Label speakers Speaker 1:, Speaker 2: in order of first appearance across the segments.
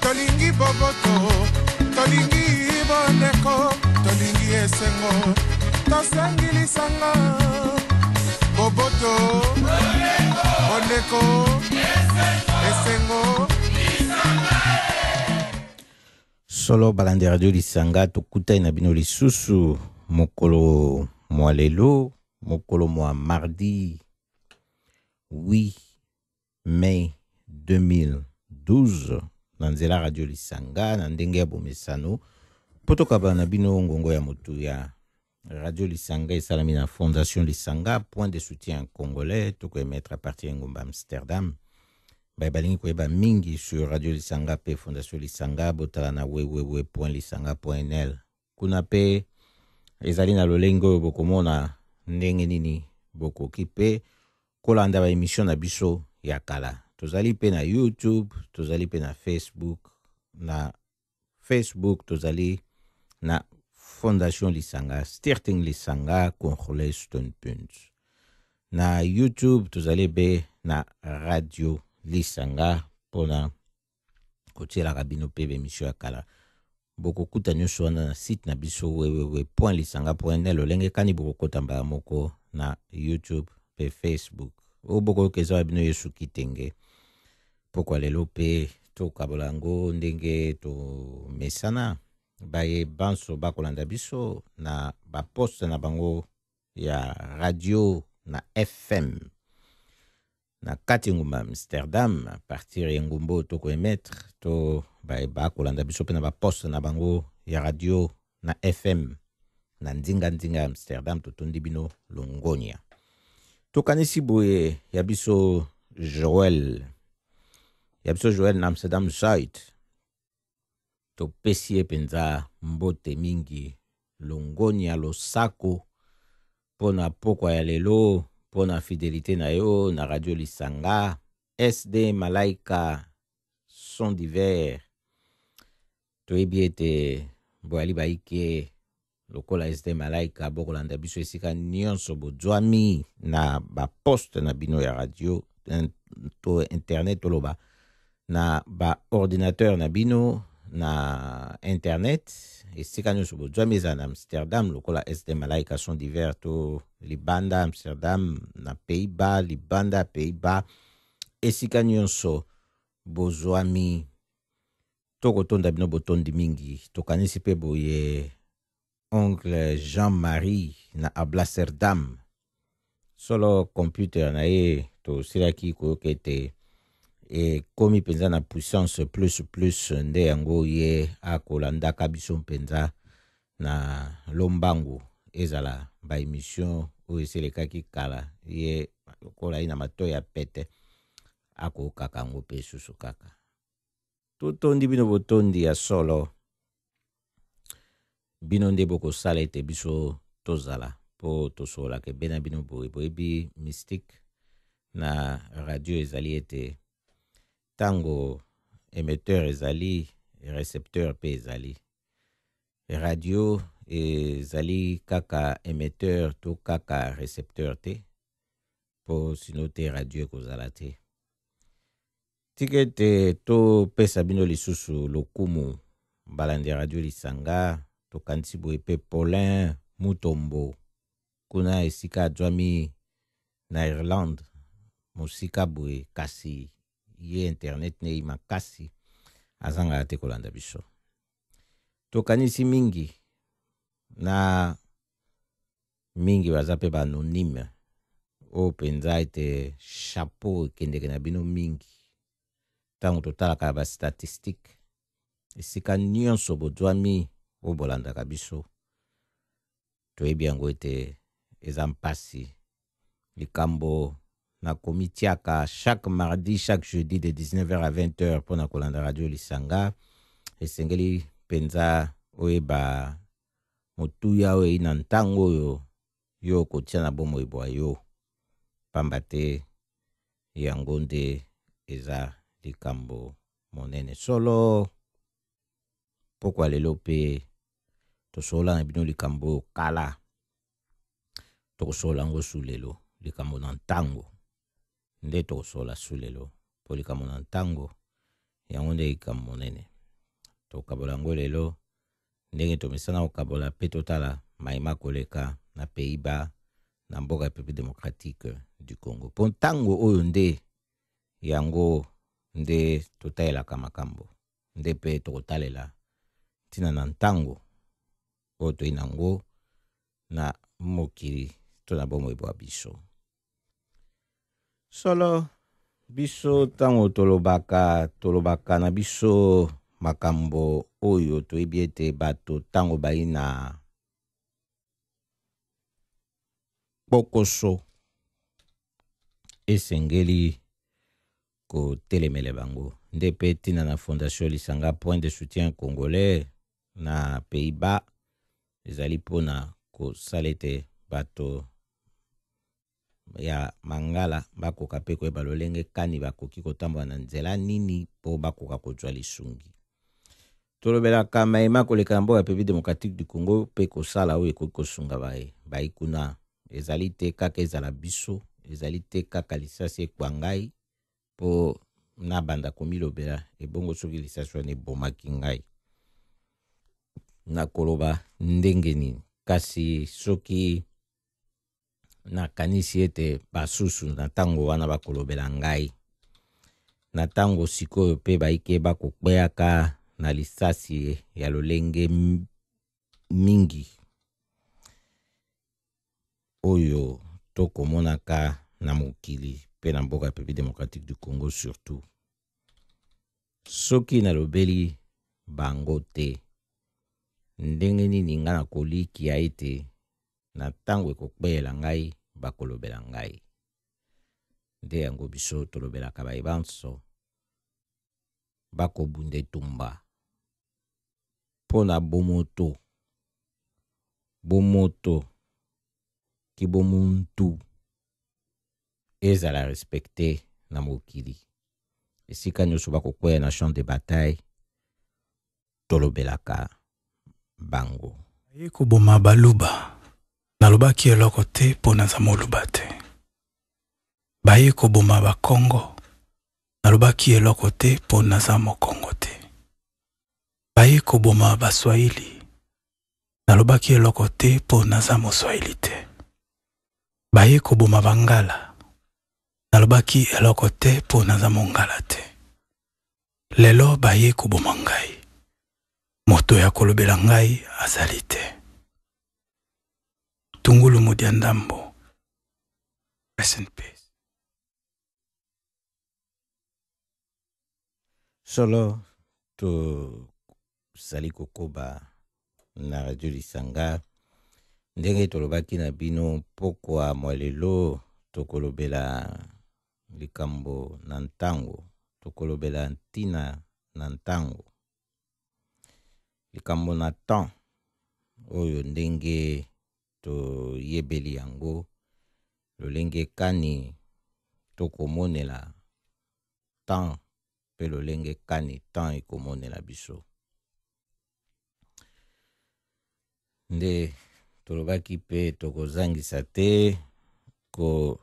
Speaker 1: tolingi boboto tolingi bondeko tolingi esengo tosengi lisanga boboto bondeko esengo
Speaker 2: solo balandi ya radio lisanga tokutani na bino lisusu mokolo mwa lelo mokolo mwa mardi wi oui. mai 2012 na nzela radio lisanga na ndenge ya bomesano mpo tokabana na bino ngongo ya motuya radio lisanga esalami na fondation lisanga point de soutien congolais tokoemettre à partir ya ngomba amsterdam baye balingi koyeba mingi sur radio lisanga mpe fondation lisanga botala na www lisanga nl kuna mpe ezali na lolenge oyo bokomona ndenge nini bokoki mpe kolanda baemisio na biso ya kala tozali mpe na youtube tozali mpe na facebook na facebook tozali na fondation lisanga stirting lisanga congolais stonpunt na youtube tozali mpe na radio lisanga mpona kotielaka bino mpe bemisio ya kala bokokuta nyonso wana na site na biso wewewe point lisanga point ne lolenge kani bokokota mbala moko na youtube mpe facebook oyo bokoyoka eza ya bino yesu kitenge mpokwa lelo mpe tokabola yango ndenge tomesana baye banso bakolanda biso na baposte na bango ya radio na fm na kati engumba Amsterdam à partir ya engumba oyo tokoemettre to bakolanda biso mpe na baposte na bango ya radio na FM na nzinganzinga ya Amsterdam totondi bino longonya tokanisi boye ya biso Joël ya biso Joël na Amsterdam Zuid Topesi ye mpenza mbote mingi longonya losako mpo na pokwa ya lelo mpo na fidelite na yo na radio lisanga sd malaika son divers toyebi ete boyali baike lokola este malaika bokolanda biso esika nyonso bozwami na baposte na bino ya radio to internet toloba na baordinateur na bino na internet esika nyonso bozwami ezala na amsterdam lokola este malaika son divers to libanda amsterdam na pays bas libanda pays bas esika nyonso bozwami Tokotonda bino botondi mingi. Tokanisi pe boye oncle Jean-Marie na Ablaserdam. Solo computer na ye tosilaki koyoka ete ekomi mpenza na puissance plus plus nde yango ye akolandaka biso mpenza na lombangu ezala baemission oyo eselekaki kala ye lokola ye na mato ya pete akokaka yango mpe susu kaka totondi bino botondi ya solo bino nde bokosala ete biso tozala mpo tosololaka ebe na bino boye boyebi mystique na radio ezali ete ntango émetteur ezali recepteur mpe ezali radio ezali kaka émetteur to kaka recepteur te mpo sino te radio ekozala te tika ete topesa bino lisusu lokumu balandi ya radio lisanga tokanisi boye mpe paulin mutombo kuna esika azwami na irlande mosika boye kasi ye internet neyi makasi azangaka te kolanda biso tokanisi mingi na mingi baza mpe baanonyme oyo mpenza ete chapeau ekendeke na bino mingi ntango totalaka ya bastatistike esika nyonso bozwami oyo bolandaka biso toyebi yango ete eza mpasi likambo na komitiaka chaque mardi chaque jeudi de 19h à 20h mpo na kolanda radio lisanga esengeli mpenza oyeba motuya oyo eyi na ntango oyo yo okotia na bomoi bwa yo mpamba te yango nde eza likambo monene solo mpokwa lelo mpe tosolola na bino likambo oyo kala tokosolola yango su lelo likambo na ntango nde tokosola su lelo, mpo likambo na ntango yango nde likambo monene. Tokabola yango lelo ndenge tomesana kokabola mpe totala mai makoleka na Pays-Bas na mboka Republique democratique du Congo. Mpo ntango oyo nde yango nde totalelaka makambo, nde mpe tokotalela ntina na ntango oyo toyei na yango na mokili to na bomoi bwa biso. solo biso ntango tolobaka tolobaka na biso makambo oyo toyebi ete bato ntango bai na kpokoso esengeli kotelemele bango nde mpe ntina na fondation lisanga point de soutien congolais na pays bas ezali mpo na kosala ete bato ya mangala bakoka mpe koyeba lolenge kani bakoki kotambola na nzela nini mpo bakoka kozwa lisungi Tolobelaka mai ma koleka na mboka ya Republique Democratique du Congo mpe kosala oyo ekoki kosunga baye bayi kuna. Ezali te kaka ezala biso, ezali te kaka lisasi ekwa ngai mpo nabanda komilobela ebongo soki lisasi wana ebomaki ngai nakoloba ndenge nini? Kasi soki nakanisi ete basusu na ntango wana bakolobela ngai na ntango sikoyo mpe baike bakokweaka na lisasi ya lolenge mingi oyo tokomonaka na mokili mpe na mboka ya République démocratique du Congo surtout soki nalobeli bango te ndenge nini ngai nakolikia ete na ntango ekokpeyela ngai bakolobela ngai nde yango biso tolobelaka baye banso bakobunda etumba mpo na bomoto bomoto kibomuntu ezala respecte na mokili esika nyonso bakokweya na champ de bataille tolobelaka bango. Naye koboma
Speaker 3: baluba nalobaki eloko te po naza moluba te baye koboma bakongo nalobaki eloko te po naza mokongo te baye koboma baswahili nalobaki eloko te po naza moswahili te baye koboma bangala nalobaki eloko te po naza mongala te Lelo bayei koboma ngai. Moto ya kolobela ngai azali te. Tungulu Mudiandambo, rest in peace.
Speaker 2: Solo, to tozali kokoba na radio lisanga ndenge tolobaki na bino mpokwa mwa lelo tokolobela likambo na ntango tokolobela ntina na ntango likambo na temps oyo ndenge toyebeli yango lolenge kani tokomonela temps mpe lolenge kani temps ekomonela biso. Nde tolobaki mpe tokozangisa te koloba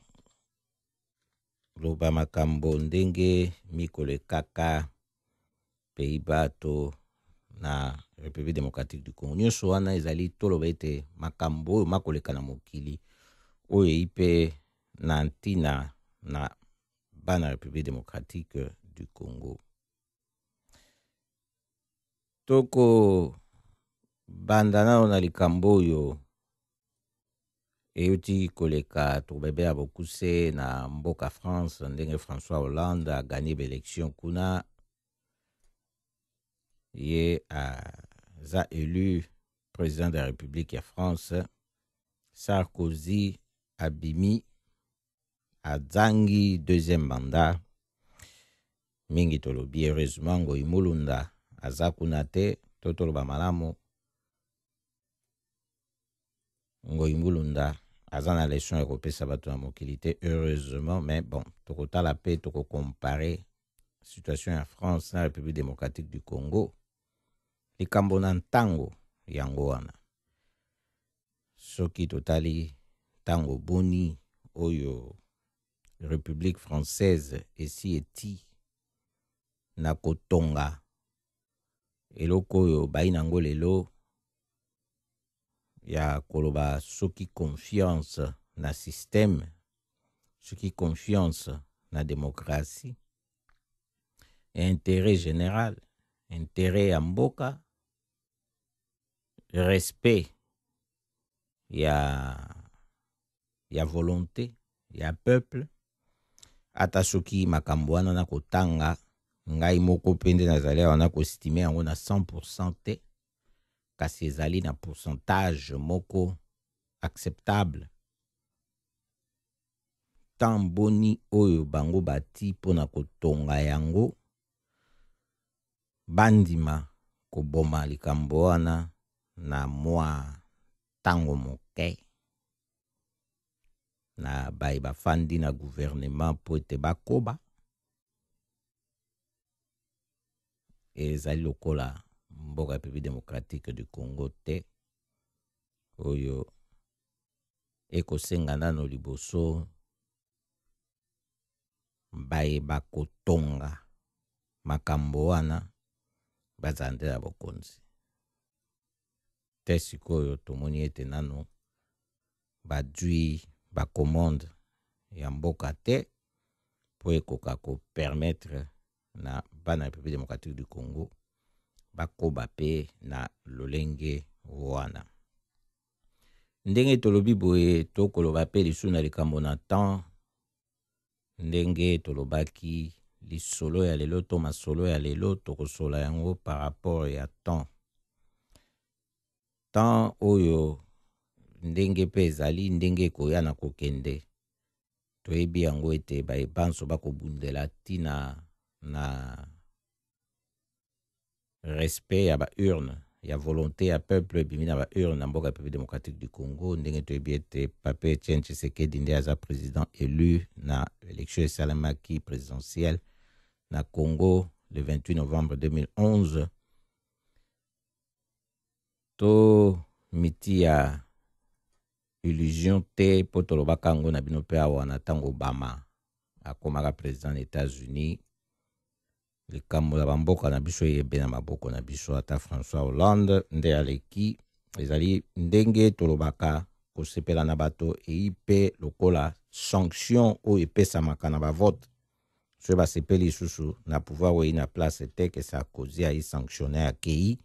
Speaker 2: makambo ndenge mikolo ekaka pays bato na République démocratique du Congo. Nyonso wana ezali toloba ete makambo oyo makoleka na mokili oyo eyi mpe na ntina na bana République démocratique du Congo. Toko banda nano na likambo oyo eyuti koleka tokobebe ya bokuse na mboka France ndenge François Hollande aganye baelection kuna ye aza élu président de la République ya France Sarkozy abimi azangi deuxième mandat mingi tolobi heureusement ngoi mulunda aza kuna te to toloba malamu ngoi mulunda aza na leson ya kopesa bato na mokili te heureusement mais bon tokotala mpe tokocompare situation ya france na république démocratique du congo likambo na ntango yango wana Soki totali tango boni oyo Republique française esi eti na kotonga eloko oyo bayi nango lelo ya koloba soki confiance na système soki confiance na démocratie intérêt général intérêt ya mboka respect ya ya volonte ya peuple ata soki makambo wana na kotanga ngai moko mpe nde nazali awa na kostime yango na 100 te kasi ezali na pourcentage moko acceptable temps boni oyo bango bati mpo na kotonga yango bandima koboma likambo wana na mwa ntango moke na baye bafandi na guvernema mpo ete bakoba ezali lokola mboka ya République démocratique du Congo te oyo ekosenga nano liboso baye bakotonga makambo wana bazala nde na bokonzi te. Sikoyo tomoni ete nano bazwi bacommande ya mboka te mpo ekoka kopermettre na bana Republique democratique du Congo bakoba mpe na lolenge wana. Ndenge tolobi boye tokoloba mpe lisusu na likambo na temps ndenge tolobaki lisolo ya lelo to masolo ya lelo tokosola yango par rapport ya temps temps oyo ndenge mpe ezali ndenge ekoya na kokende toyebi yango ete baye banso bakobundela ntina na respect ya ba urne ya volonte ya peuple ebimi na ba urne na mboka Republique Democratique du Congo ndenge toyebi ete Pape Etienne Tshisekedi nde aza president élu na election esalemaki présidentielle na Congo le 28 novembre 2011 to miti ya illusion te mpo tolobaka yango na bino mpe awa na ntango obama akomaka président na états-unis likambo ya bamboka na biso eyebe na maboko na biso ata françois hollande nde aleki ezali ndenge tolobaka kosepela na bato eyi mpe lokola sanction oyo epesamaka na bavote soki basepeli lisusu na pouvoir oyo eyi na place te ke sarkozy ayi sanctionne akei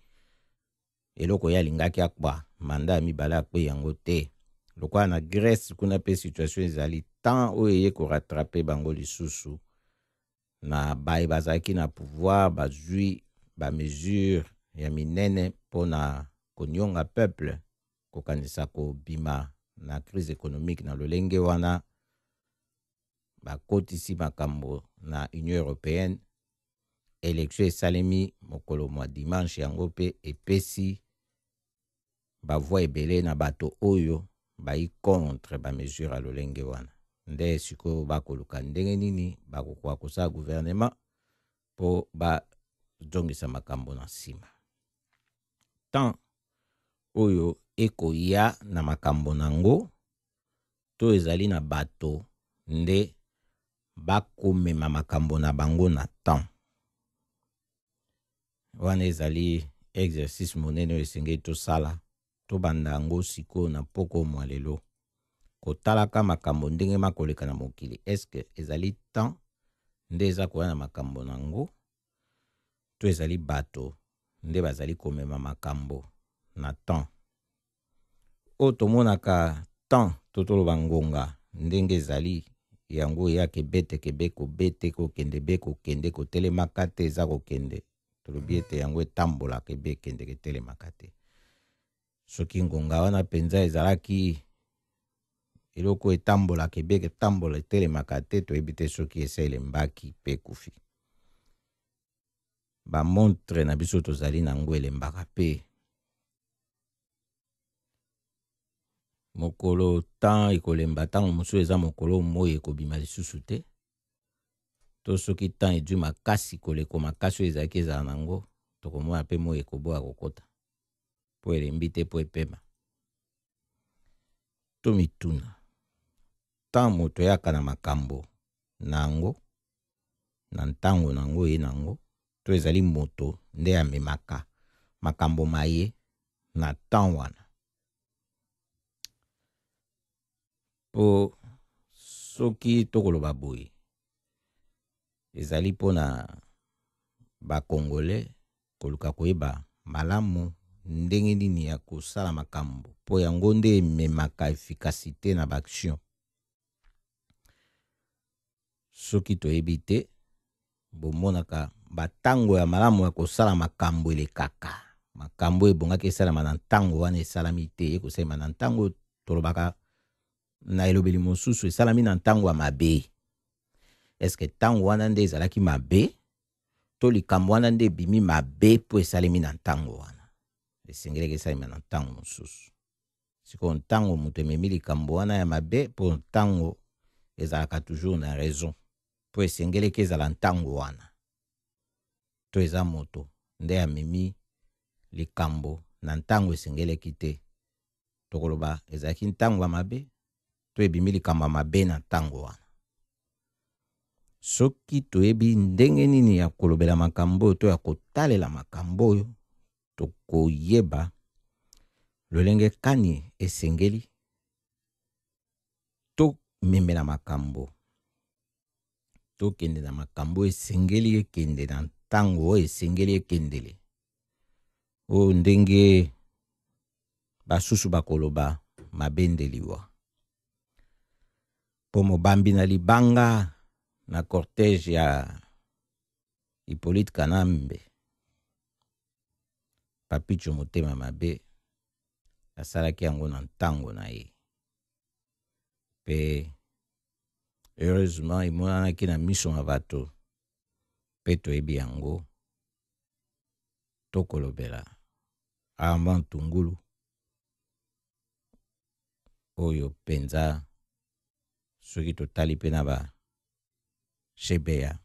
Speaker 2: eloko ye alingaki akba manda ya mibale akpei yango te lokola na grèce kuna mpe situation ezali temps oyo eye koratrape bango lisusu na baye bazalaki na pouvoir bazwi ba mesure ya minene mpo na konionga peuple kokanisa kobima na crise économique na lolenge wana bakotisi makambo na union européenne election esalemi mokolo mwa dimanche yango mpe epesi ba voix ebele na bato oyo bayi contre ba mesures ya lolenge wana. Nde sikoyo ba koluka ndenge nini ba kokoka kosala gouvernement po ba zongisa makambo na nsima. Temps oyo ekoya na makambo nango to ezali na bato nde ba komema makambo na bango na temps. wana ezali exercice monene oyo esengeli tosala tobanda yango sikoyo na mpoko mwa lelo kotalaka makambo ndenge makoleka na mokili eske ezali temps nde eza koya na makambo na yango to ezali bato nde bazali komema makambo na temps oyo tomonaka temps to toloba ngonga ndenge ezali yango eya kebete kebe kobete kokende be kokende kotelemaka te eza kokende tolobi ete yango etambolaka ebe ekendeke etelemaka te soki ngonga wana mpenza ezalaki eloko etambolaka ebe etambola etelemaka te toyebi te soki ese elembaki mpe ekufi bamontre na biso tozali na yango elembaka mpe mokolo temps ekolemba ntango mosusu eza mokolo moi ekobima lisusu te to soki temps edui makasi koleko makasi oyo ezalaki ezala na yango tokomona mpe moi ekoboya kokota mpo elembi te mpo epema tomituna ntango moto eyaka na makambo na yango na ntango na yango ye na yango to ezali moto nde amemaka makambo maye na temps wana mpo soki tokoloba boye ezali mpo na bakongole koluka koyeba malamu ndenge nini ya kosala makambo mpo yango nde ememaka efikasite na baaction Soki toyebi te, bomonaka batango ya malamu ya kosala makambo elekaka. Makambo oyo ebongaki esalama na ntango wana esalami te, ekosalema na ntango tolobaka na elobeli mosusu esalami na ntango ya mabe eske ntango wana nde ezalaki mabe to likambo wana nde ebimi mabe mpo esalemi na ntango wana esengelaki esalema na ntango mosusu sikoyo ntango moto ememi likambo wana ya mabe mpo ntango ezalaka toujours na raison mpo esengeleki ezala ntango wana to eza moto nde amemi likambo na ntango esengeleki te tokoloba ezalaki ntango ya mabe to ebimi likambo ya mabe na ntango wana soki toyebi ndenge nini ya kolobela makambo oyo to ya kotalela makambo oyo tokoyeba lolenge kani esengeli tomemela makambo tokende na makambo esengeli ekende na ntango oyo esengeli ekendele oyo ndenge basusu bakoloba mabende liwa mpo mobambi na libanga na cortège ya Hyppolite Kanambe, Papitsho motema mabe, asalaki yango na ntango na ye. Mpe heureusement emonanaki na miso ma bato mpe toyebi yango tokolobela Armand Tungulu oyo mpenza soki totali mpe na ba GBA.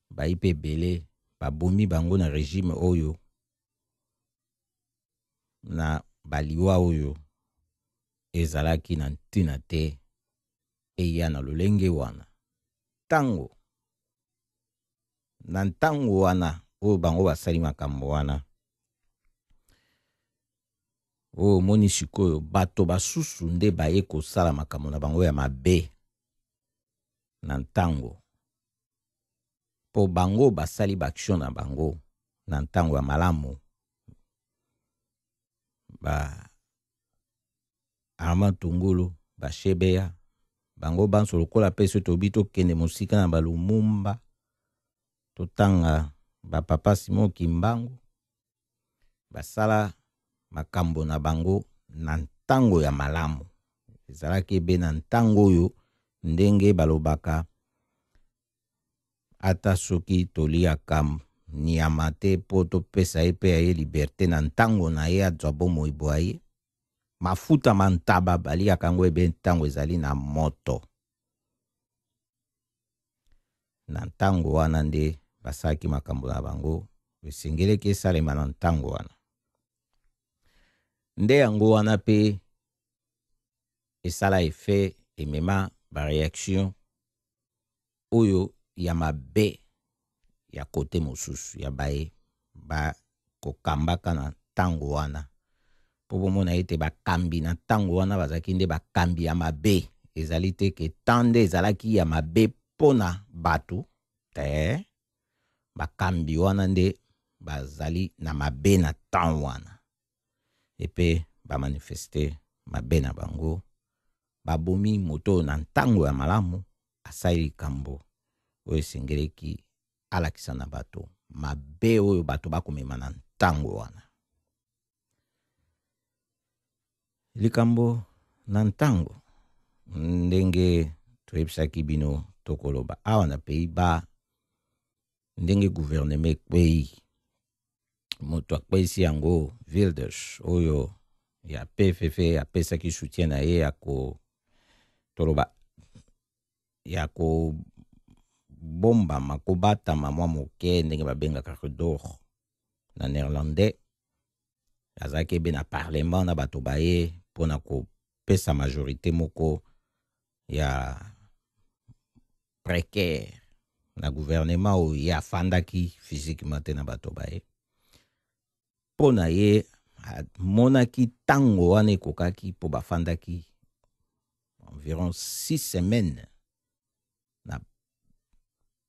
Speaker 2: Bayi mpe ebele babomi bango na regime oyo na baliwa oyo ezalaki na ntina te eya na lolenge wana ntango na ntango wana oyo bango basali makambo wana oyo omoni sikoyo bato basusu nde baye kosala makambo na bango ya mabe na ntango mpo bango basali baaktio na bango na ntango ya malamu ba armand tungulu bashebeya bango banso lokola mpe so tobi tokende mosika na balumumba totanga bapapa simo kimbangu basala makambo na bango na ntango ya malamu. Ezalaki ebe na ntango oyo ndenge balobaka ata soki toliaka nyama te mpo topesa ye mpe ya ye liberte na ntango na ye azwa bomoi bwa ye mafuta ma ntaba baliaka yango ebe ntango ezali na moto Na ntango wana nde basalaki makambo na bango, esengeleki esalema na ntango wana. Nde yango wana mpe esala efe emema bareaction oyo ya mabe ya kote mosusu ya baye bakokambaka na ntango wana mpo bomona ete bakambi na ntango wana bazalaki nde bakambi ya mabe ezali te ke temps nde ezalaki ya mabe mpo na bato te bakambi wana nde bazali na mabe na temps wana epe bamanifeste mabe na bango babomi moto na ntango ya malamu asali likambo oyo esengeleki alakisa na bato mabe oyo bato bakomema na ntango wana likambo na ntango ndenge toyebisaki bino tokoloba awa na pays ba ndenge guvernema ekwei moto akweisi yango vildes oyo ya pff apesaki soutien na ye ya ko toloba ya kobombama kobatama mwa moke ndenge babengaka redor na néerlandais azalaki ebe na parlement na bato baye mpo na kopesa majorité moko ya precaire na gouvernement oyo ye afandaki physiquement te na bato baye mpo na ye amonaki ntango wana ekokaki mpo bafandaki environ six semaines na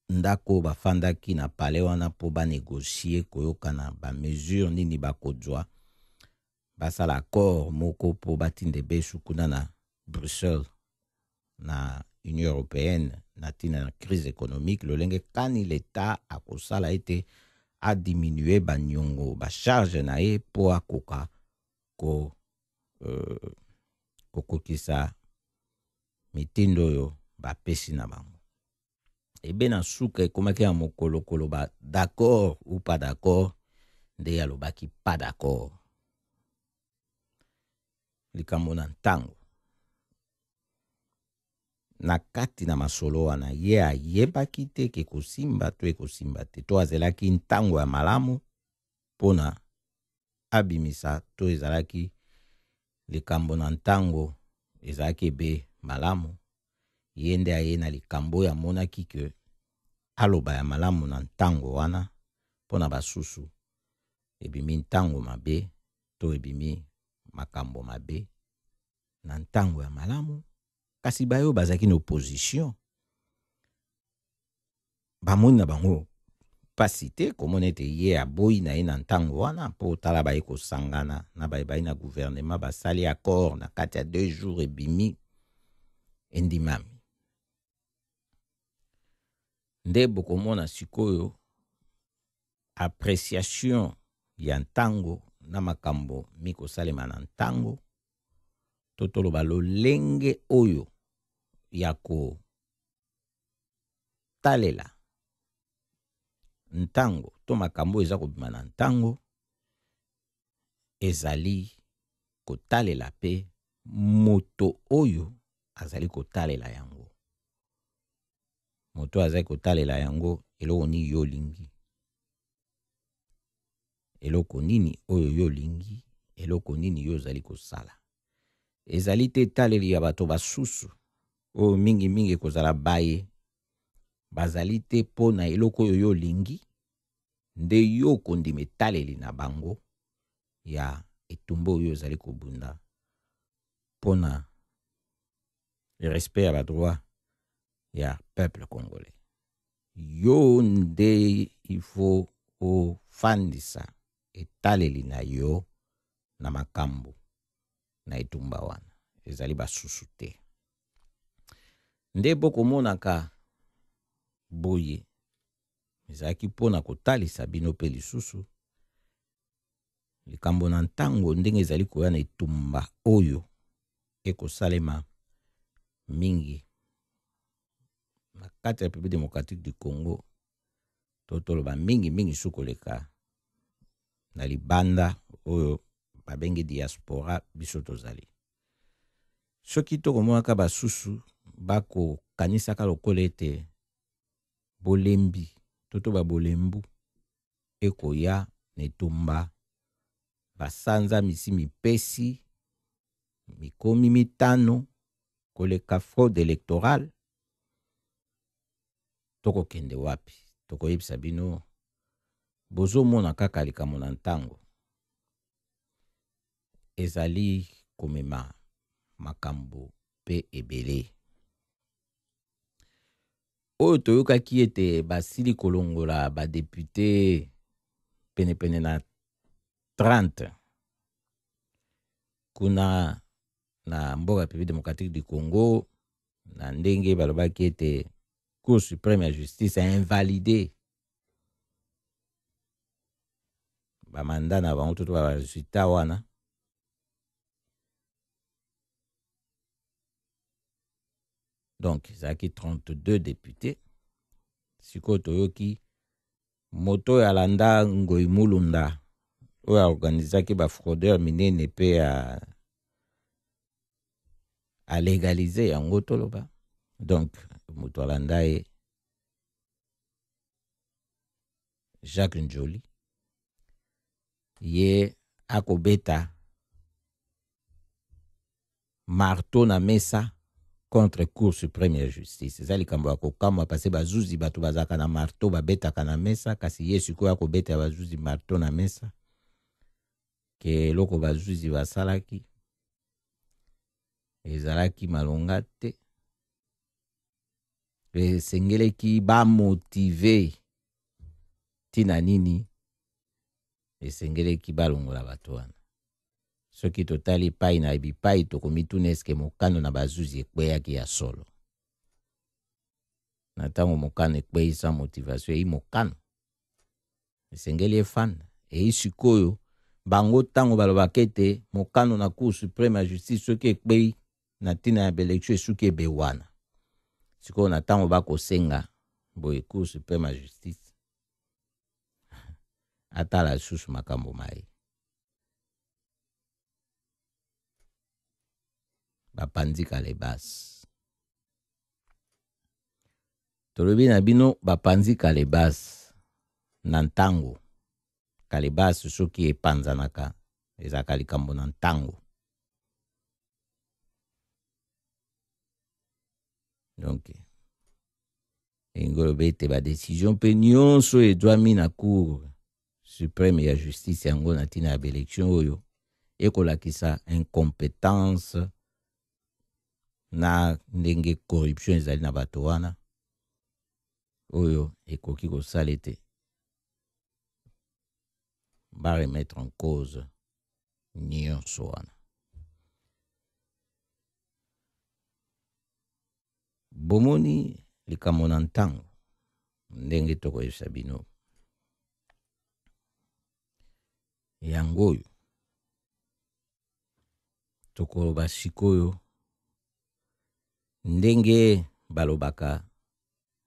Speaker 2: ndako oyo bafandaki na palais wana mpo banegocie koyokana bamesure nini bakozwa basala accord moko mpo batinda ebesu kuna na Bruxelles na Union européenne na ntina na crise économique lolenge kani l'État akosala ete adiminue banyongo bacharge na ye mpo akoka ko, euh, kokokisa mitindo oyo bapesi na bango ebe na suka ekomaki ya mokolo koloba d'accord ou pas d'accord nde alobaki pas d'accord likambo na ntango na kati na masolo wana ye ayebaki te ke ekosimba to ekosimba te to azelaki ntango ya malamu mpo na abimisa to ezalaki likambo na ntango ezalaki ebe malamu ye nde aye na likambo oyo amonaki ke aloba ya malamu na ntango wana mpo na basusu ebimi ntango mabe to ebimi makambo mabe na ntango ya malamu kasi baye oyo bazalaki na opposition bamoni na bango mpasi te komona ete ye aboyi na ye na ntango wana mpo tala baye kosangana na baye bayi na guvernema basali accord na kati ya deux jours ebimi endimami nde bokomona sikoyo appréciation ya ntango na makambo mikosalema na ntango to toloba lolenge oyo ya ko Talela ntango to makambo oyo eza kobima na ntango ezali kotalela mpe moto oyo azali kotalela yango. Moto oyo azali kotalela yango eloko nini yo olingi. eloko nini oyo yo olingi, eloko nini yo ozali kosala. Ezali te etaleli ya bato basusu, oyo mingimingi ekozala baye bazali te mpo na eloko oyo yo olingi, nde yo okondima etaleli na bango ya etumba oyo ozali kobunda mpo na respect ya badroit ya peuple congolais yo nde il faut ofandisa etaleli na yo na makambo na etumba wana ezali basusu te nde bokomonaka boye ezalaki mpo na kotalisa bino mpe lisusu likambo na ntango ndenge ezali koya na etumba oyo ekosalema mingi na kati ya République démocratique du Congo to toloba mingi mingi su koleka na libanda oyo babengi diaspora biso tozali soki tokomonaka basusu bakokanisaka lokola ete bolembi to to babolembu ekoya na etumba, basanza misi mipesi mikomi mitano koleka fraude electorale, tokokende wapi? Tokoyebisa bino, bozomona kaka likambo na ntango ezali komema makambo pe ebele. oyo toyokaki ete basili kolongola badepute penepene na 30 kuna na mboka République démocratique du Congo na ndenge balobaki ete Cour suprême ya justice a invalidé bamanda na bango toto baresultat wana donc ezalaki 32 depute sikoyo toyoki moto oyo alanda ngoi mulunda oyo aorganizaki bafraudeur minene mpe ya alegalize yango toloba donc moto alanda ye Jacques Njoli ye akobeta marteau na mesa contre cour supreme ya justice eza likambo ya kokamwa parce bazuzi bato bazalaka na marteau babetaka na mesa kasi ye sikoyo akobeta ya bazuzi marteau na mesa ke eloko bazuzi basalaki ezalaki malonga te esengeleki bamotive ntina nini esengeleki balongola bato wana soki totali epai na bipai tokomituna eske mokano na bazuzi ekweyaki ya solo na ntango mokano ekwei sans motivation eyi mokano esengeli efanda eyi sikoyo bango ntango balobaka ete mokano na cour supreme ya justice soki ekpei na ntina ya baelektio esuki ebe wana sikoyo na ntango bakosenga boye cour supreme ya justice atala lisusu makambo maye bapanzi kalebasi tolobi na bino bapanzi kalebasi na ntango kalebasi soki epanzanaka ezalaka likambo na ntango donc elingi oloba ete badesizio mpe nyonso oyo ezwami na cour supreme ya justice yango na ntina ya baelektio oyo ekolakisa incompetence na ndenge corruption ezali na bato wana oyo ekoki kosala ete ba remettre en cause nyonso wana Bomoni likambo na ntango, ndenge tokoyebisa bino yango oyo tokoloba sikoyo ndenge balobaka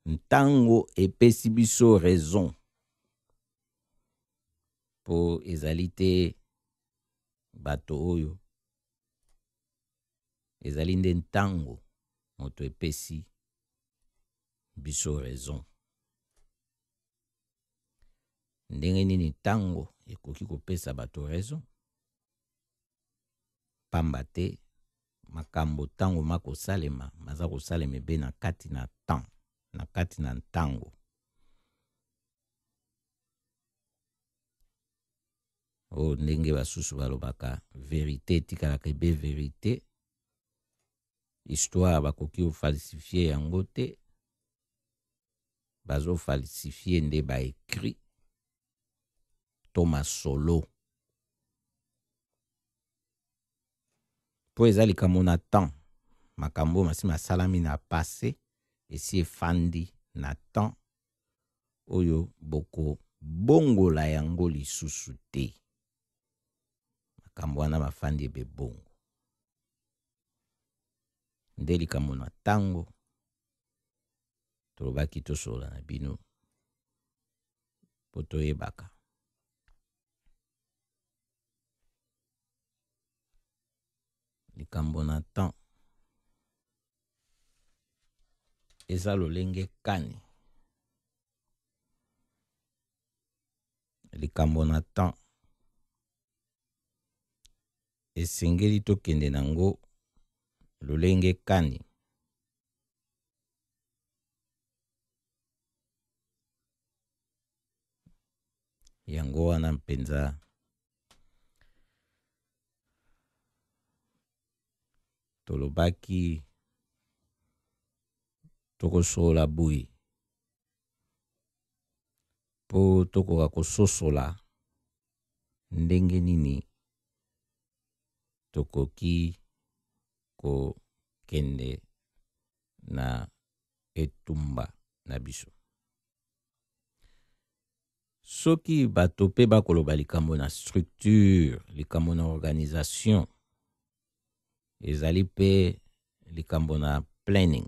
Speaker 2: ntango epesi biso raison mpo ezali te bato oyo Ezali nde ntango moto epesi biso raison. Ndenge nini ntango ekoki kopesa bato raison? Pamba te makambo ntango makosalema maza kosalema ebe na kati na temps, na kati na ntango. oyo ndenge basusu balobaka verite etikalaka ebe verite histoire bakoki ofalsifie yango te bazofalsifie nde baekri to masolo mpo eza likambo na temps makambo oyo masi masalami na passe esi efandi na temps oyo bokobongola yango lisusu te. Makambo wana mafandi ebe bongo. Nde likambo na ntango tolobaki tosolola na bino mpo toyebaka likambo na temps eza lolenge kani likambo na temps esengeli tokende na ngo lolenge kani yango wana mpenza tolobaki tokosolola boye mpo tokoka kososola ndenge nini tokoki kokende na etumba na biso soki bato mpe bakoloba likambo na structure likambo na organisation ezali mpe likambo na planning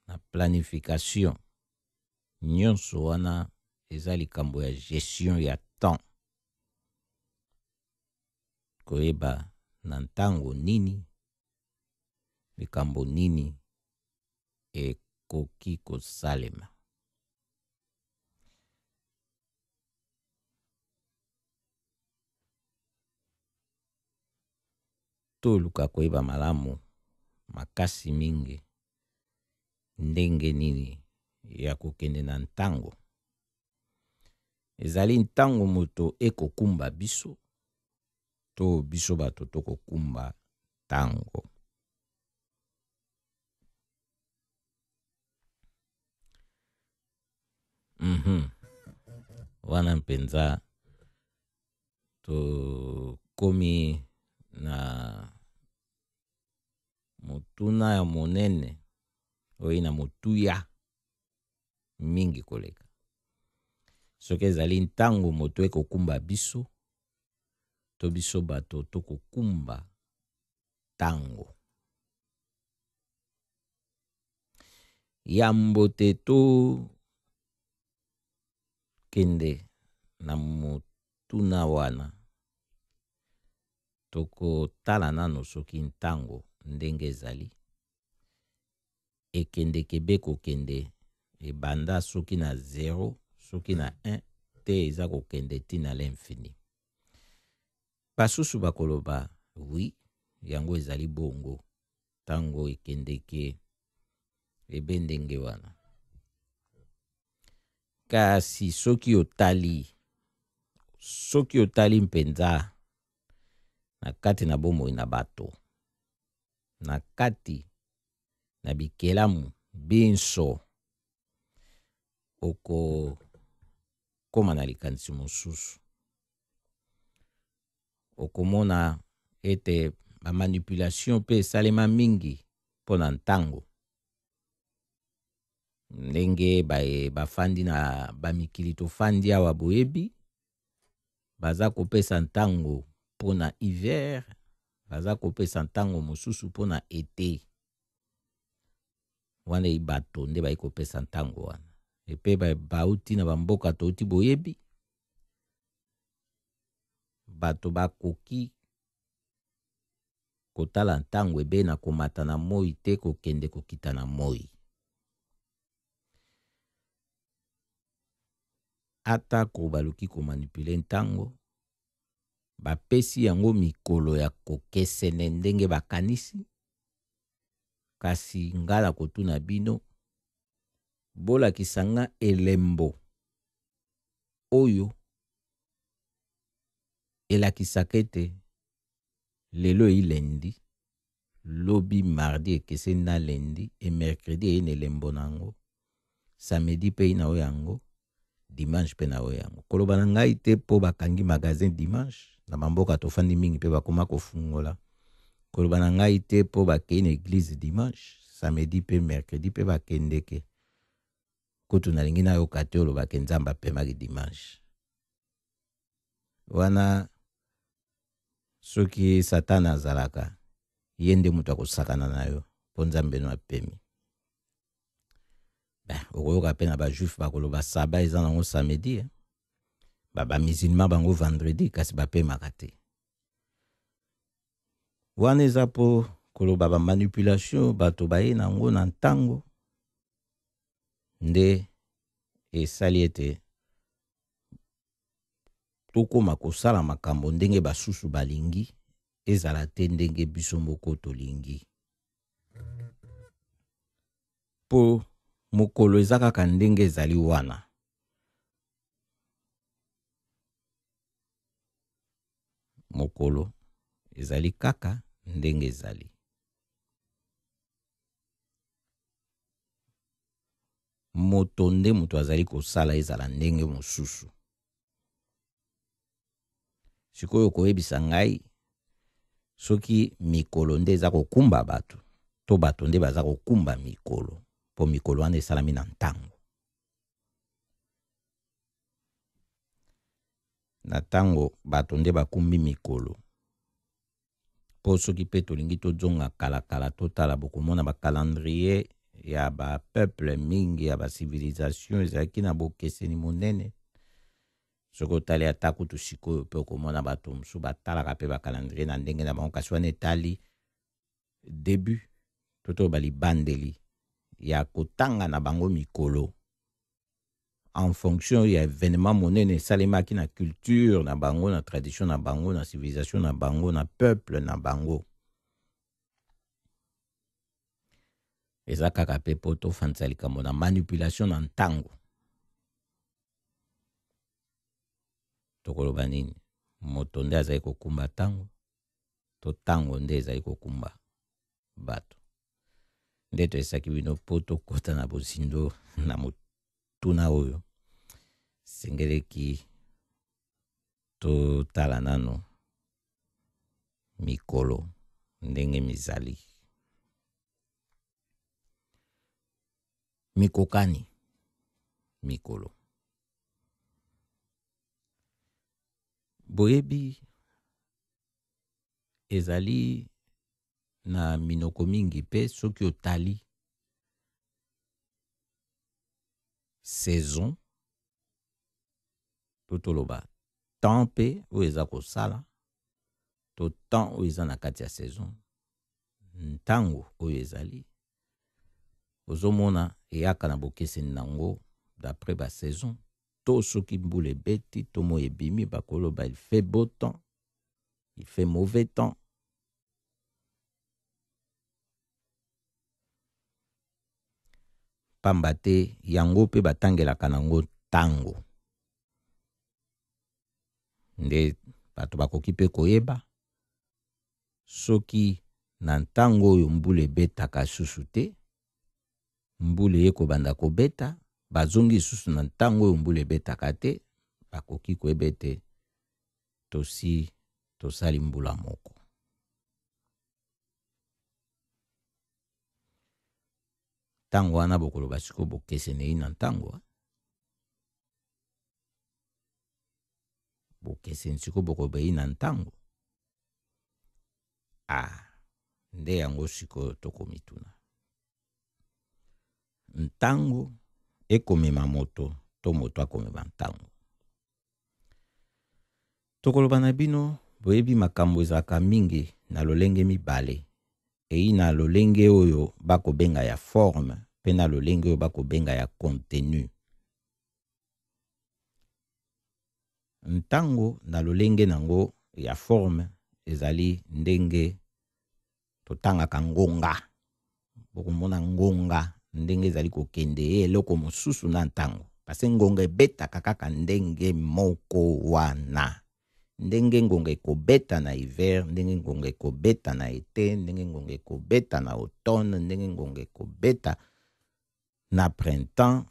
Speaker 2: na planification nyonso wana eza likambo ya gestion ya temps koyeba na ntango nini likambo nini ekoki kosalema. Toluka koyeba malamu makasi mingi ndenge nini ya kokende na ntango. Ezali ntango moto ekokumba biso to biso bato tokokumba ntango. Mhm. Wana mpenza tokomi na motuna ya monene oyo na motuya mingi koleka. Soki ezali ntango moto ekokumba biso, to biso bato tokokumba ntango. Yambo te to kende na motuna wana, tokotala nano soki ntango ndenge ezali ekendeke be kokende ebanda soki na 0 soki na 1 te eza kokende ntina l'infini. Basusu bakoloba, Oui, yango ezali bongo. Ntango ekendeke ebe ndenge wana. Kasi soki otali, soki otali mpenza na kati na bomoi na bato, na kati na bikelamu binso, okokoma na likanisi mosusu. okomona ete bamanipulation mpe esalema mingi mpo na ntango ndenge bafandi na bamikili tofandi awa boyebi baza kopesa ntango mpo na hiver baza kopesa ntango mosusu mpo na ete wana eyi bato nde bayi kopesa ntango wana epe bauti na bamboka touti boyebi bato bakoki kotala ntango ebe na komata na moi te kokende kokita na moi. Atako baluki komanipule ntango, bapesi yango mikolo ya kokesene ndenge bakanisi, kasi ngai nakotuna bino, bolakisa nga elembo oyo elakisaka ete lelo eyi lundi, lobi mardi ekeseni na lundi et mercredi eyi na elembo na yango, samedi mpe eyi na oyo yango, dimanche mpe na oyo yango. Koloba na ngai te mpo bakangi magasin dimanche na bamboka tofandi mingi mpe bakoma kofungola. Koloba na ngai te mpo bakei na eglise dimanche, samedi mpe mercredi mpe bakendeke. kutu nalingi nayoka te oloba ke nzambe apemaki dimanche wana soki satana azalaka ye nde moto akosakana na yo mpo nzambe no apemi ben, okoyoka mpe na bajuif bakoloba saba eza nango samedi eh? bamisilma bango vendredi kasi bapemaka te wana eza mpo koloba bamanipulation bato baye na yango na ntango nde esali ete tokoma kosala makambo ndenge basusu balingi ezala te ndenge biso moko tolingi mpo mokolo eza kaka ndenge ezali wana mokolo ezali kaka ndenge ezali moto nde moto azali kosala ezala ndenge mosusu sikoyo koyebisa ngai soki mikolo nde eza kokumba bato to bato nde baza kokumba mikolo mpo mikolo wana esalami na ntango na ntango bato nde bakumbi mikolo mpo soki mpe tolingi tozonga kalakala totala bokomona bakalandrie ya bapeuple mingi ya basivilization ezalaki na bokeseni monene soki otali ata kutu sikoyo mpe okomona bato mosusu batalaka mpe bakalandrie na ndenge na bango kasi wana etali debut to toloba libandeli ya kotanga na bango mikolo en fonction ya événement monene esalemaki na culture na bango na tradition na bango na civilisation na bango na peuple na bango eza kaka mpe mpo tofandisa likambo na manipulation na ntango tokoloba nini moto nde azali kokumba ntango to ntango nde ezali kokumba bato nde toyesaki bino mpo tokota na bozindo na motuna oyo sengeleki totala nano mikolo ndenge mizali mikokani mikolo boyebi ezali na minoko mingi mpe soki otali saison to toloba temps mpe oyo eza kosala to temps oyo eza na kati ya saison ntango oyo ezali ozomona eyaka na bokeseni na yango d'après ba saison to soki mbula ebeti to moi ebimi bakoloba il fait beau temps il fait mauvais temps Pamba te yango mpe batangelaka na yango ntango. Nde bato bakoki mpe koyeba soki na ntango oyo mbula ebetaka lisusu te, mbula eye kobanda kobeta, bazongi lisusu na ntango oyo mbula ebetaka te, bakoki koyeba ete tosi tosali mbula moko. Ntango wana bokoloba sikoyo bokesenei na ntango bokeseni sikoyo bokobei na ntango a ah, nde yango sikoyo tokomituna ntango ekomema moto to moto akomema ntango tokoloba na bino boyebi makambo ezalaka mingi na lolenge mibale eyi na lolenge oyo bakobenga ya forme mpe na lolenge oyo bakobenga ya contenu ntango na lolenge na yango ya forme ezali ndenge totangaka ngonga bokomona ngonga ndenge ezali kokende ye eloko mosusu na ntango pase ngonga ebetaka kaka ndenge moko wana ndenge ngonga ekobeta na hiver ndenge ngonga ekobeta na ete ndenge ngonga ekobeta na automne ndenge ngonga ekobeta na printemps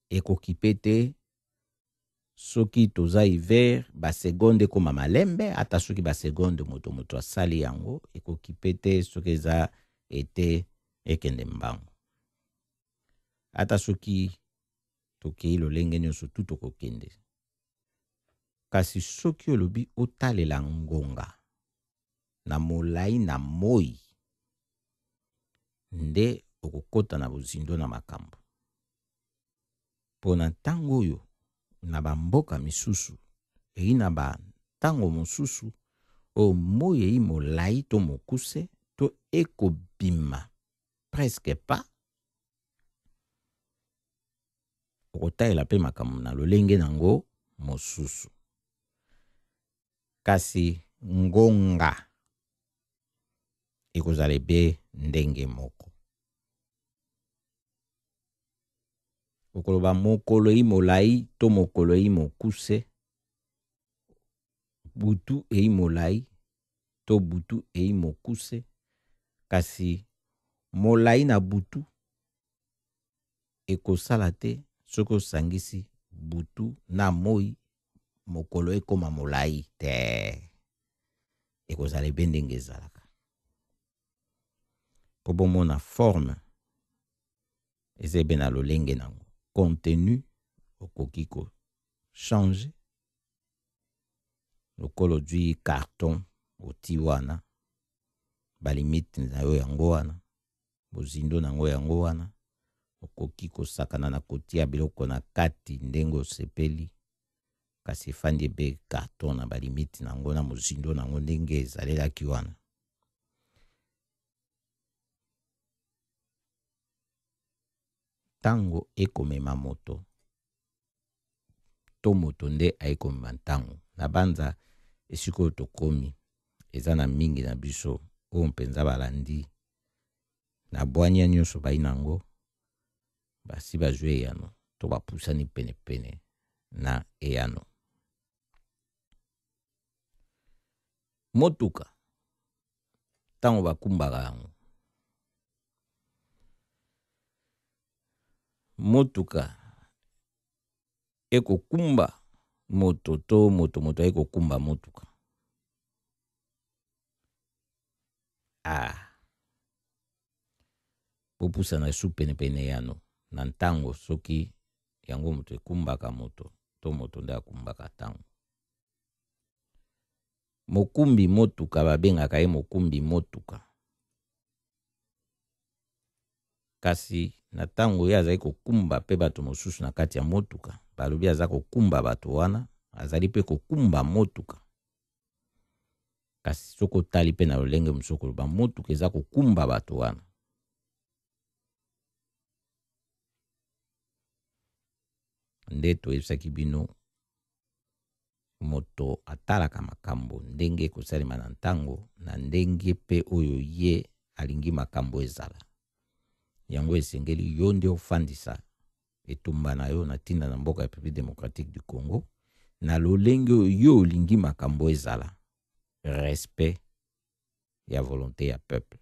Speaker 2: ekokipe te soki toza hiver ba seconde ekoma malembe ata soki ba seconde moto moto asali yango ekokipe te soki eza ete ekende mbango ata soki tokei lolenge nyonso tu tokokende kasi soki olobi otalela ngonga na molai na moi nde okokota na bozindo na makambo. Mpo na ntango oyo na bamboka misusu eyi na bantango mosusu oyo moi eyi molai to mokuse to ekobima presque pas okotalela mpe makambo na lolenge na yango mosusu. Kasi ngonga ekozala ebe ndenge moko. Okoloba mokolo eyi molai to mokolo eyi mokuse, butu eyi molai to butu eyi mokuse, kasi molai na butu ekosala te soki osangisi butu na moi mokolo ekoma molai te ekozala ebe ndenge ezalaka mpo bomona forme eza ebe na lolenge nango contenu okoki kochange lokola ozwi carton oti wana balimite na yo yango wana bozindo na yango yango wana okoki kosakana na kotia biloko na kati ndenge osepeli kasi efandi ebe karton na balimite na yango na mozindo na yango ndenge ezalelaki wana ntango ekomema moto to moto nde aye komema ntango na banza esika oyo tokomi eza na mingi na biso oyo mpenza balandi na bwania nyonso bai na yango basi bazwi eyano to bapusani penepene na eyano motuka ntango bakumbaka yango motuka ekokumba moto to moto moto aye kokumba motuka ah. bopusana su penepene yano na ntango soki yango moto ekumbaka moto to moto nde akumbaka ntango mokumbi motuka babengaka ye mokumbi motuka Kasi na ntango ye azali kokumba mpe bato mosusu na kati ya motuka, balobi aza kokumba bato wana, azali mpe kokumba motuka. Kasi soki otali mpe na lolenge mosusu koloba motuka eza kokumba bato wana. Nde toyebisaki bino Moto atalaka makambo ndenge ekosalema na ntango, na ndenge mpe oyo ye alingi makambo ezala. Yango esengeli yo nde ofandisa etumba na yo na ntina na mboka ya Republique democratique du Congo na lolenge oyo yo olingi makambo ezala respect ya volonté ya peuple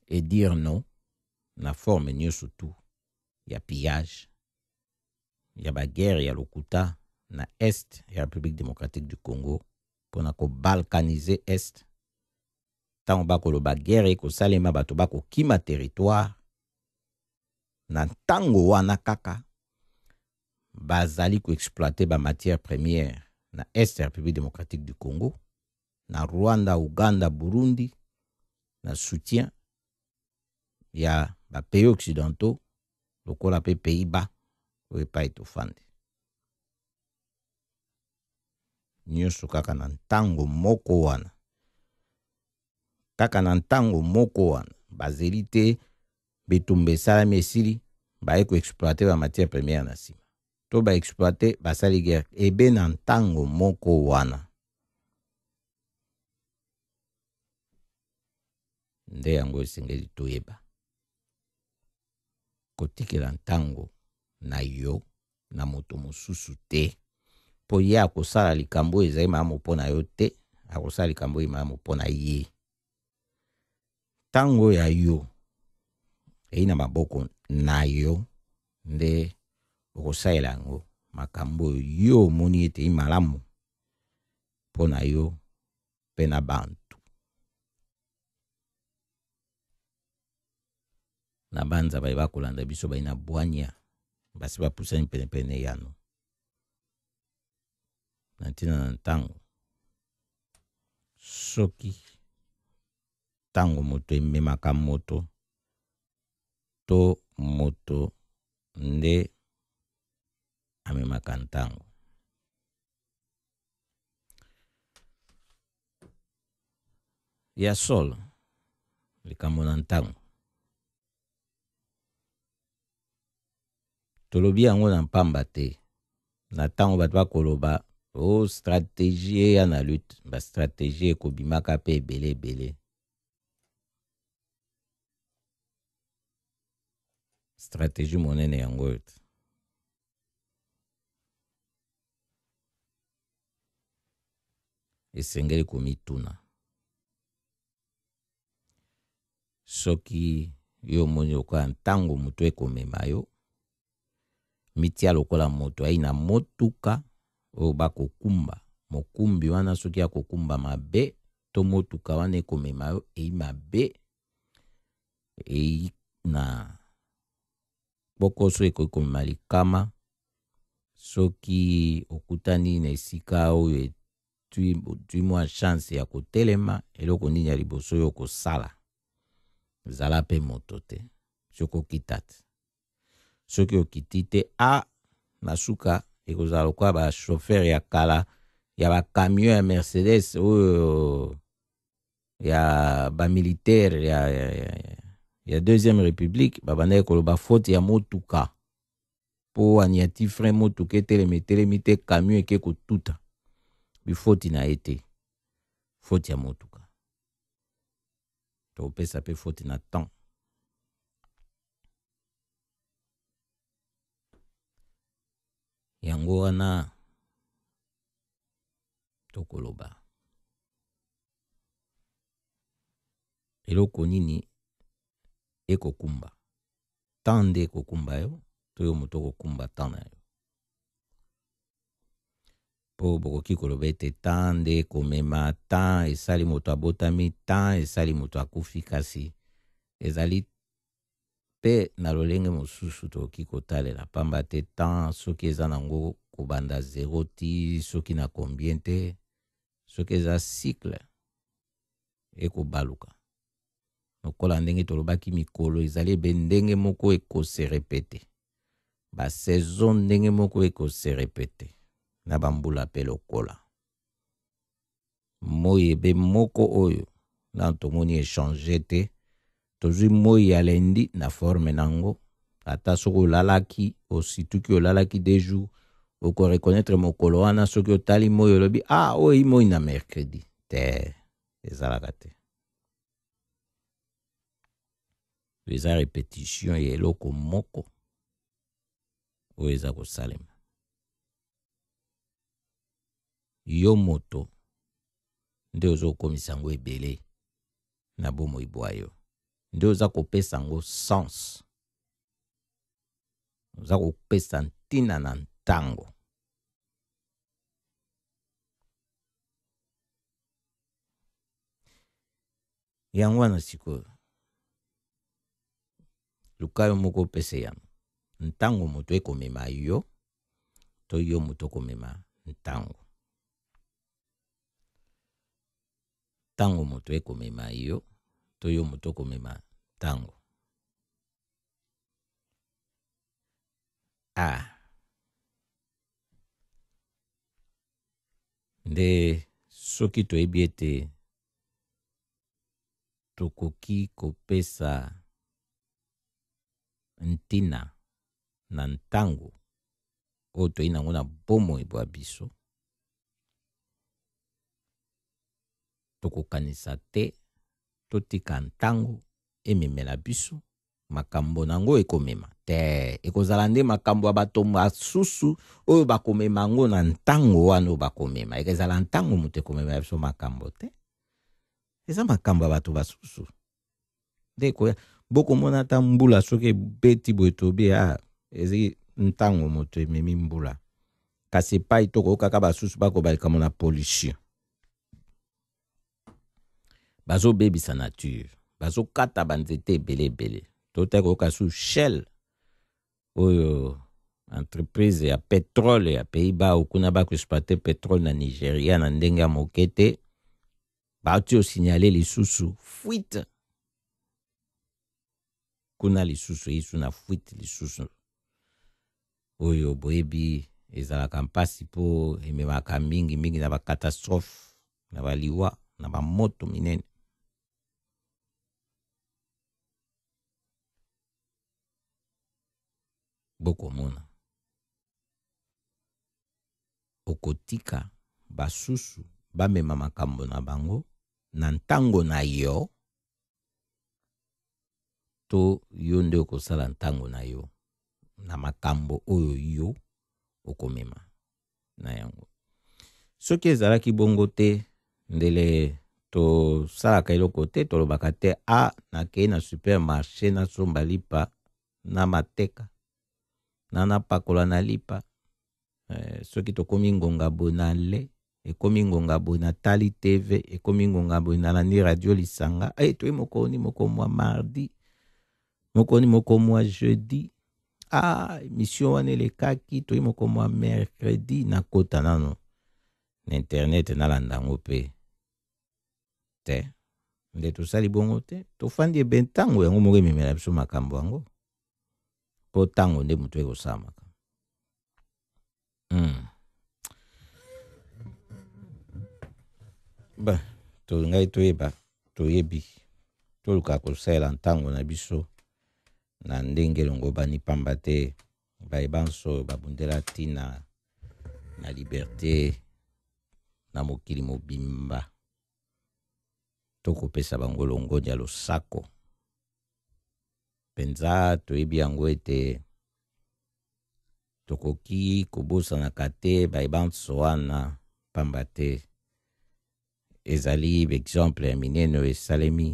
Speaker 2: et dire non na forme nyonso tout ya pillage ya baguerre ya lokuta na est ya République démocratique du Congo mpo na kobalkanize est ntango bakoloba guerre ekosalema bato bakokima territoire na ntango wana kaka bazali koexploite bamatière première na est ya République démocratique du Congo na Rwanda, Ouganda, Burundi na soutien ya ba pays occidentaux lokola pe pays bas oyo epai tofandi nyonso kaka na ntango moko wana kaka na ntango moko wana bazeli te bitumba esalami esili baye koexploite bamatière première na nsima to baexploite basali guerre ebe na ntango moko wana nde yango esengeli toyeba kotikela ntango na yo na moto mosusu te mpo ye akosala likambo oyo ezali malamu mpo na yo te akosala likambo oyo malamu mpo na ye ntango ya yo eyi na maboko na yo nde okosalela yango makambo oyo yo omoni ete malamu mpo na yo mpe na bantu. Na banza baye bakolanda biso bayi na bwanya basi bapusani penepene yano na ntina na ntango soki ntango moto ememaka moto to moto nde amemaka ntango ya solo likambo na ntango tolobi yango na mpamba te na ntango bato bakoloba o oh, strategie eya na lutte bastrategie ekobimaka mpe ebele ebele strategie monene yango oyo te esengeli komituna soki yo omoni lokola ntango moto ekomema yo mitia lokola moto ayi na motuka oyo bakokumba mokumbi wana soki akokumba mabe to motuka wana ekomema yo eyi mabe eyi na Kpokoso ekoki komema likama soki okutani na esika oyo otwi mwa chance ya kotelema. Eloko nini ya liboso yo okosala? Zala mpe moto te soki okita te. Soki okiti te, a ah, na suka ekozala lokola ba chauffeur ya kala ya ba camion ya Mercedes oyo ya ba militaire ya, ya, ya, ya deuxième république babandaki koloba faute ya motuka mpo aniati frein motuka etelemi etelemi te camion eke kotuta bifoti na ye te faute ya motuka topesa mpe faute na temps yango wana tokoloba eloko nini ekokumba temps nde ekokumba yo to yo moto okokumba temps na yo mpo bokoki koloba ete temps nde ekomema temps esali moto abotami temps esali moto akufi kasi ezali mpe na lolenge mosusu tokoki kotalela mpamba te temps soki eza nango kobanda zero ti soki na combien te soki eza cycle ekobaluka lokola ndenge tolobaki mikolo ezali ebe ndenge moko ekoserepete basaison ndenge moko ekoserepete na bambula mpe lokola moi ebe moko oyo nano tomoni echange te tozwi moi ya lendi na forme na yango ata soki olalaki osituki olalaki de jour okoreconnaitre mokolo wana soki otali moi olobi ah oyo eyi moi na mercredi te ezalaka te eza repetition ya eloko moko oyo eza kosalema yo moto nde ozokomisa yango ebele na bomoi bwa yo nde oza kopesa yango sens oza kopesa ntina na ntango yango wana sikoyo luka yo moko opesa yano ntango moto ekomema yo to yo moto okomema ntango Ntango moto ekomema yo to yo moto okomema ntango? A. Nde soki toyebi ete tokoki kopesa ntina na ntango oyo toyei nango na bomoi bwa biso, Tokokanisa te, totika ntango ememela biso makambo na yango ekomema te. Ekozala nde makambo ya bato basusu oyo bakomema yango na ntango wana oyo bakomema. Ekezala ntango moto ekomema biso makambo te. Eza makambo ya bato basusu. nde ekoya bokomona ata mbula soki ebeti boye tobi a ah, ezali ntango moto ememi mbula kasi epai tokoyokaka basusu bakoba likambo na pollution bazobebisa nature bazokata banzete ebele ebele totaki koyoka su shell oyo entreprise ya petrole ya pays bas okuna bakoexploite petrole na nigeria na ndenge ya moke te bauti osignale lisusu fuite kuna lisusu eyesu na fuite lisusu oyo boyebi ezalaka mpasi mpo ememaka mingi mingi na bakatastrophe na baliwa na bamoto minene bokomona okotika basusu bamema makambo na bango na ntango na yo to yo nde okosala ntango na yo na makambo oyo yo okomema na yango soki ezalaki bongo te ndele tosalaka eloko te tolobaka te a ah, nakei na supermarché nasomba lipa na mateka na napakola na lipa eh, soki tokomi ngonga boye na le ekomi ngonga boye na tali tv ekomi ngonga boye na landi radio lisanga e eh, toye mokoni moko mwa mardi mokoni moko mwa jeudi ah emission wana elekaki toye moko mwa mercredi nakota nano na internet nalanda yango mpe te nde tosali bongo te tofandi ebe ntango yango moko ememela biso makambo yango mpo ntango nde moto ekosalamaka mm. ba tolingaki toyeba toyebi toluka kosalela ntango na biso na ndenge elongobani mpamba te baye banso babundela ntina na liberte na mokili mobimba tokopesa bango longonya losako mpenza toyebi yango ete tokoki kobosanaka te baye banso wana mpamba te ezali baexemple ya minene oyo esalemi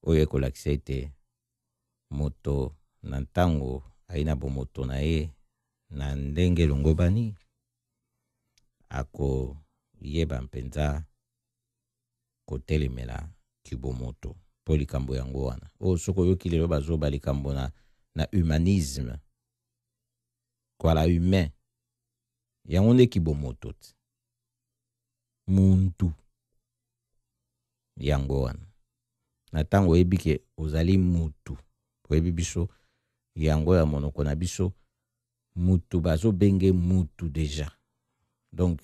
Speaker 2: oyo ekolakisa ete moto na ntango ayi na bomoto na ye na ndenge elongobani akoyeba mpenza kotelemela kibomoto po likambo yango wana oyo soki oyoki lelo bazoba likambo na, na humanisme kwala humain yango nde kibomoto ti muntu yango wana na ntango oyebi ke ozali mutu oyebi biso yango ya monoko na biso mutu bazobenge mutu deja donc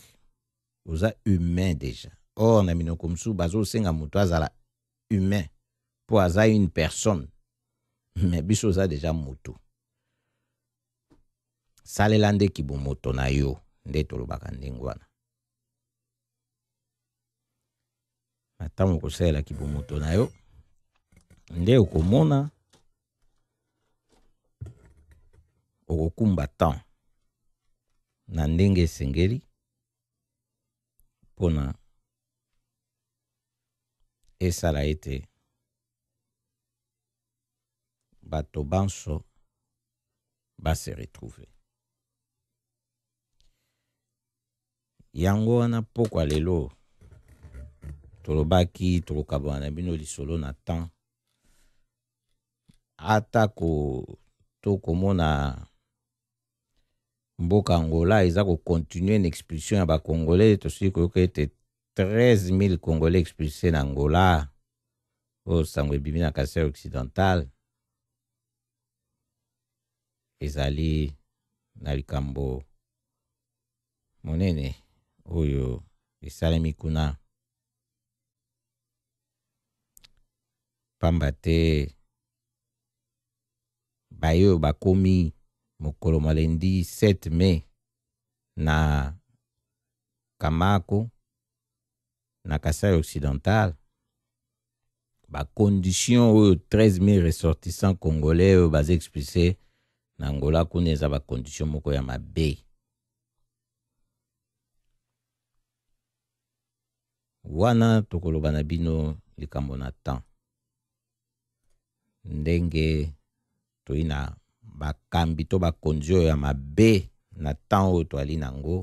Speaker 2: oza humain déjà or na minoko mosusu bazosenga moto azala humain mpo aza une personne me biso oza déjà moto salela nde kibomoto na yo nde tolobaka ndenge wana na ntango okosalela kibomoto na yo nde okomona okokumba temps na ndenge esengeli mpona esala ete bato banso base retrouve yango wana pokwa lelo tolobaki tokokabana na bino lisolo na temps atako tokomona mboka angola eza kocontinue na expulsion ya bacongolais tosili koyoka ete 13000 congolais expulse na angola oyo sango ebimi na kasai occidental ezali na likambo monene oyo esalemi kuna pamba te baye oyo bakomi mokolo mwa lendi 7 mai na kamako na Kasai occidental ba conditions oyo 13000 ressortissants congolais oyo baza expulse na Angola kuna eza ba conditions moko ya mabe wana tokoloba na bino likambo na temps ndenge toyei na bakambi to bakonzi oyo ya mabe na ntango oyo toali na yango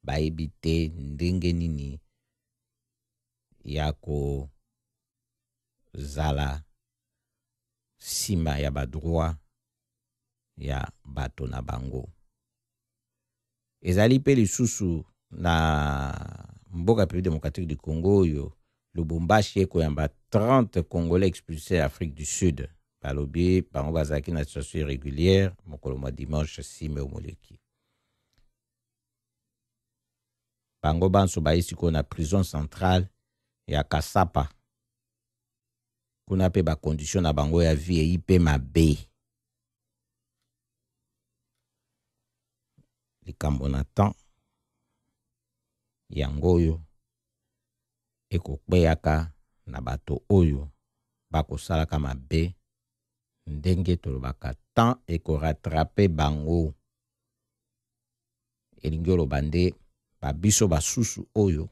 Speaker 2: bayebi te ndenge nini ya kozala nsima ya badroit ya bato na bango. ezali mpe lisusu na mboka République démocratique du Congo oyo Lubumbashi ekoyamba 30 congolais expulsés ya Afrique du Sud balobi bango bazalaki na situation irrégulière mokolo mwa dimanche 6 mai omoleki bango banso baye sikoyo na prison centrale ya Kasapa kuna mpe bakondition na bango ya vie eyi mpe mabe likambo na temps yango oyo ekokweyaka na bato oyo bakosalaka mabe ndenge tolobaka temps ekoratrape bango elingi oloba nde babiso basusu oyo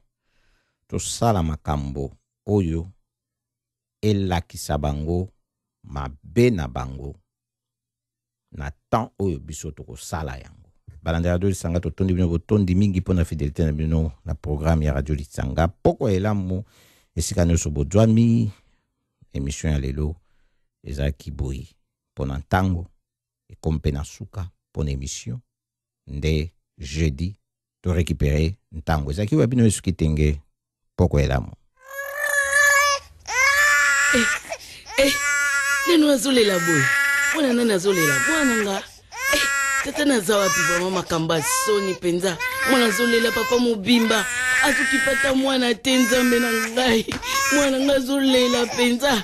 Speaker 2: tosala makambo oyo elakisa bango mabe na bango na temps oyo biso tokosala yango balandela radio lisanga totondi bino botondi mingi mpo na fidelité na bino na programme ya radio lisanga poko ya elamu esika nyonso bozwami emission ya lelo ezalaki boye mpo na ntango ekomi mpe na suka mpo na emission nde jeudi to récupérer ntango ezalaki oyo bino esuki tenge poko elamu eh,
Speaker 4: eh, nanu azolela boye mwana nani azolela mwana nga eh, tata naza wapi vraimen makambo ya soni mpenza mwana azolela papa mobimba azokipata mwana te nzambe na ngai mwana ngai azolela mpenza